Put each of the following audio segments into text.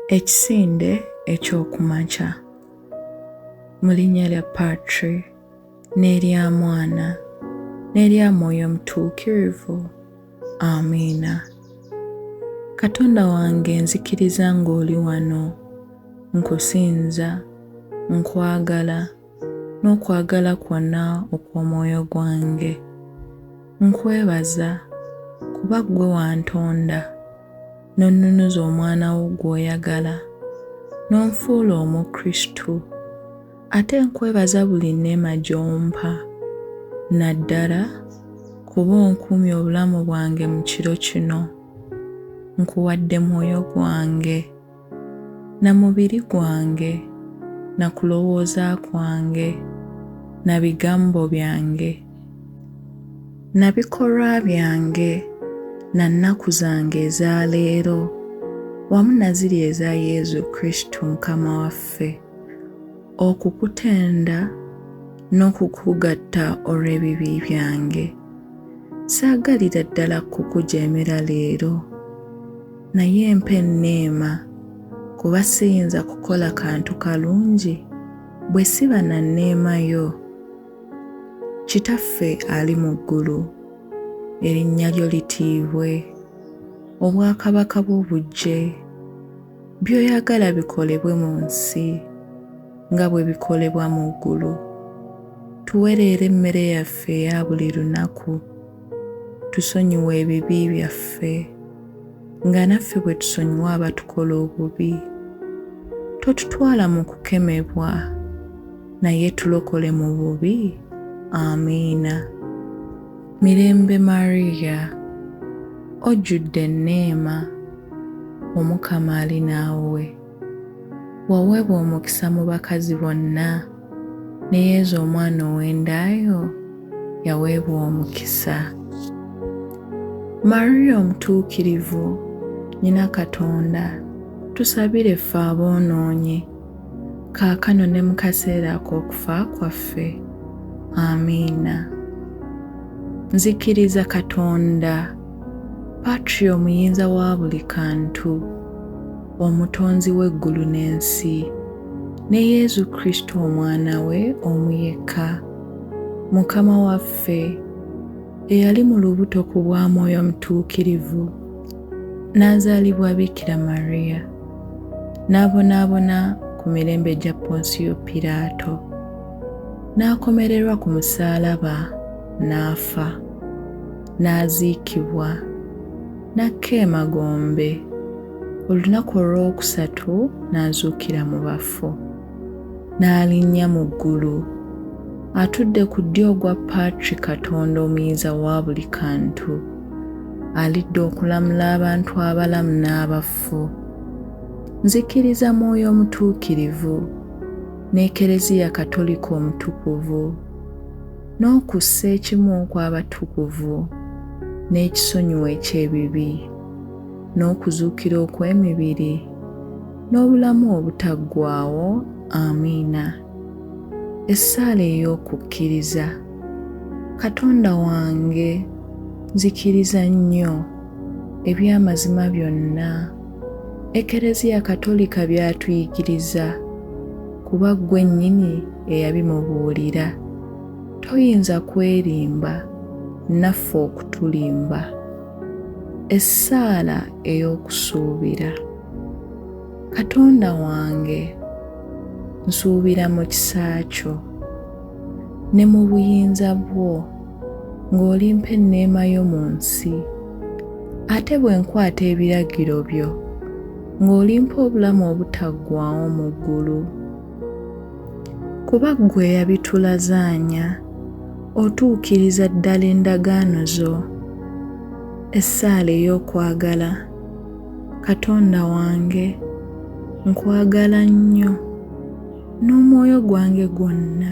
Ekisinde eky'oku makya. Mu linnya lya Patri n'erya Mwana n'erya Mwoyo Mutuukirivu. Amiina. Katonda wange nzikiriza ng'oli wano. Nkusinza. Nkwagala. n'okwagala kwonna okw'omwoyo gwange. Nkwebaza kuba ggwe wantonda n'onnunuza omwana wo gw'oyagala n'onfuula Omukristu. Ate nkwebaza buli nneema gy'ompa naddala kuba onkuumye obulamu bwange mu kiro kino. Nkuwadde mwoyo gwange. na mubiri gwange, na kulowooza kwange, na bigambo byange, na bikolwa byange, na nnaku zange eza leero, wamu na ziri eza Yezu Kristu Mukama waffe, okukutenda n'okukugatta olw'ebibi byange. Saagalira ddala kukujeemera leero. Naye mpa enneema, kuba siyinza kukola kantu kalungi bwe siba na nneema yo. Kitaffe ali mu ggulu, erinnya lyo litiibwe, obwakabaka bwo bujje, by'oyagala bikolebwe mu nsi nga bwe bikolebwa mu ggulu. Tuwe leero emmere yaffe eya buli lunaku. Tusonyiwe ebibi byaffe. nga naffe bwe tusonyiwa abatukola obubi. Totutwala mu kukemebwa, naye tulokole mu bubi. Amiina. Mirembe Maria, ojjudde enneema, Omukama ali naawe. Waweebwa omukisa mu bakazi bonna, ne Yezu omwana ow'endaayo yaweebwa omukisa. Maria omutuukirivu, nyina Katonda, tusabire ffe aboonoonyi, kaakano ne mu kaseera ak'okufa kwaffe. Amiina. Nzikiriza Katonda, Patri omuyinza wa buli kantu. Omutonzi w'eggulu n'ensi, ne Yesu Kristo Omwana we omu yekka, Mukama waffe, eyali mu lubuto ku bwa Mwoyo Mutuukirivu, n'azaalibwa Bikira Maria, n'abonaabona ku mirembe gya Ponsiyo Piraato, n'akomererwa ku musaalaba, n'afa, n'aziikibwa. n'akka emagombe olunaku olw'okusatu n'azuukira mu bafu n'alinnya mu ggulu atudde ku ddyo ogwa patri katonda omuyinza wa buli kantu alidde okulamula abantu abalamu n'abaffu nzikiriza mwoyo omutuukirivu n'ekereziya katolika omutukuvu n'okussa ekimu kw'abatukuvu n'ekisonyiwo eky'ebibi n'okuzuukira okw'emibiri n'obulamu obutaggwaawo amiina essaala ey'okukkiriza katonda wange nzikiriza nnyo eby'amazima byonna Ekereziya Katolika by'atuyigiriza kuba ggwe nnyini eyabimubuulira. Toyinza kwerimba naffe okutulimba. Essaala ey'okusuubira. Katonda wange, nsuubira mu kisa kyo. ne mu buyinza bwo ng'olimpa enneema yo mu nsi ate bwe nkwata ebiragiro byo ng'olimpa obulamu obutaggwaawo mu ggulu kuba ggwe eyabitulazaanya otuukiriza ddala endagaano zo essaala ey'okwagala katonda wange nkwagala nnyo n'omwoyo gwange gwonna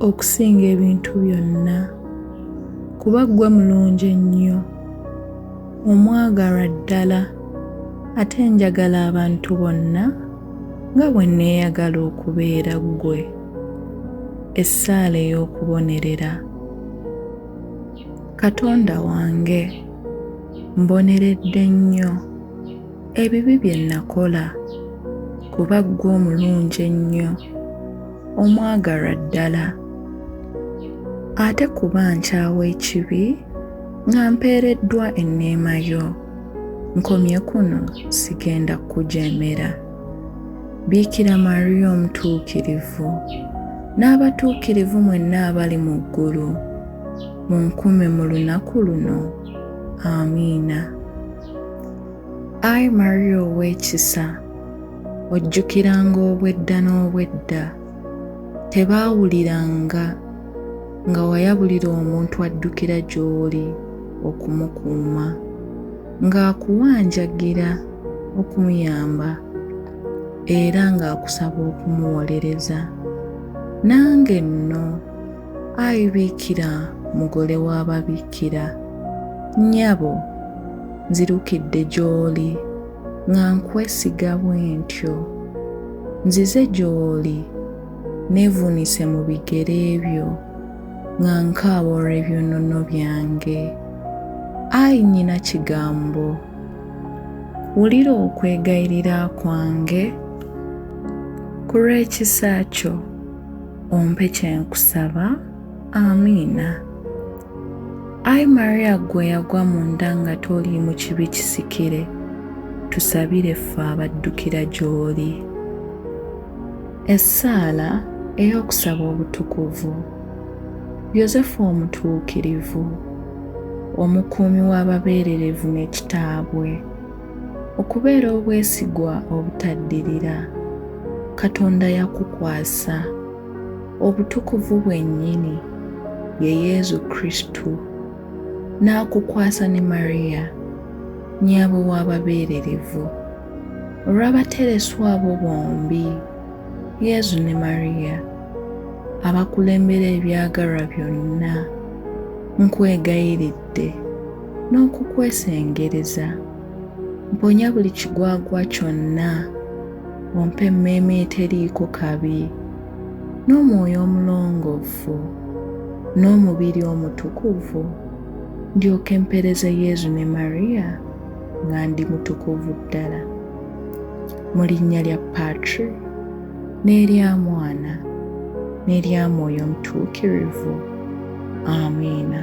okusinga ebintu byonna kuba ggwe mulungi ennyo omwagalwa ddala ate njagala abantu bonna nga bwe nneeyagala okubeera ggwe essaala ey'okubonerera katonda wange mboneredde nnyo ebibi bye nnakola kuba ggwe omulungi ennyo omwagalwa ddala ate kuba nkyawa ekibi nga mpeereddwa enneema yo nkomye kuno sigenda kukujeemera biikira mariya omutuukirivu n'abatuukirivu mwenna abali mu ggulu munkume mu lunaku luno amiina Ai Maria ow'ekisa, ojjukiranga obwedda n'obwedda tebaawuliranga nga wayabulira omuntu addukira gy'oli okumukuuma, ng'akuwanjagira okumuyamba era ng'akusaba okumuwolereza. Nange nno. Ayi Biikira mugole w'ababikkira, nnyabo nzirukidde gy'oli nga nkwesiga bwentyo. Nzize gy'oli neevuunise mu bigere byo nga nkaaba olw'ebyonono byange. Ayi nnyina kigambo, wulira okwegayirira kwange ku lw'ekisa kyo. ompe kyenkusaba amiina ayi maria gwe yagwa mu nda nga toli mu kibi kisikire tusabire ffe abaddukira gy'oli essaala ey'okusaba obutukuvu yosefu omutuukirivu omukuumi w'ababeererevu n'ekitaabwe Okubeera obwesigwa obutaddirira Katonda yakukwasa. Obutukuvu bwennyini ye Yezu Kristu n'akukwasa ne Mariya nnyabwe w'ababeererevu. Olw'abatereswa abo bombi, Yezu ne Mariya, abakulembera ebyagalwa byonna, nkwegayiridde n'okukwesengereza mponya buli kigwagwa kyonna ompa emmeeme eteriiko kabi n'omwoyo omulongoofu n'omubiri omutukuvu ndyoke mpereze yezu ne mariya nga ndi mutukuvu ddala mu linnya lya patri n'erya mwana n'erya mwoyo omutuukirivu amiina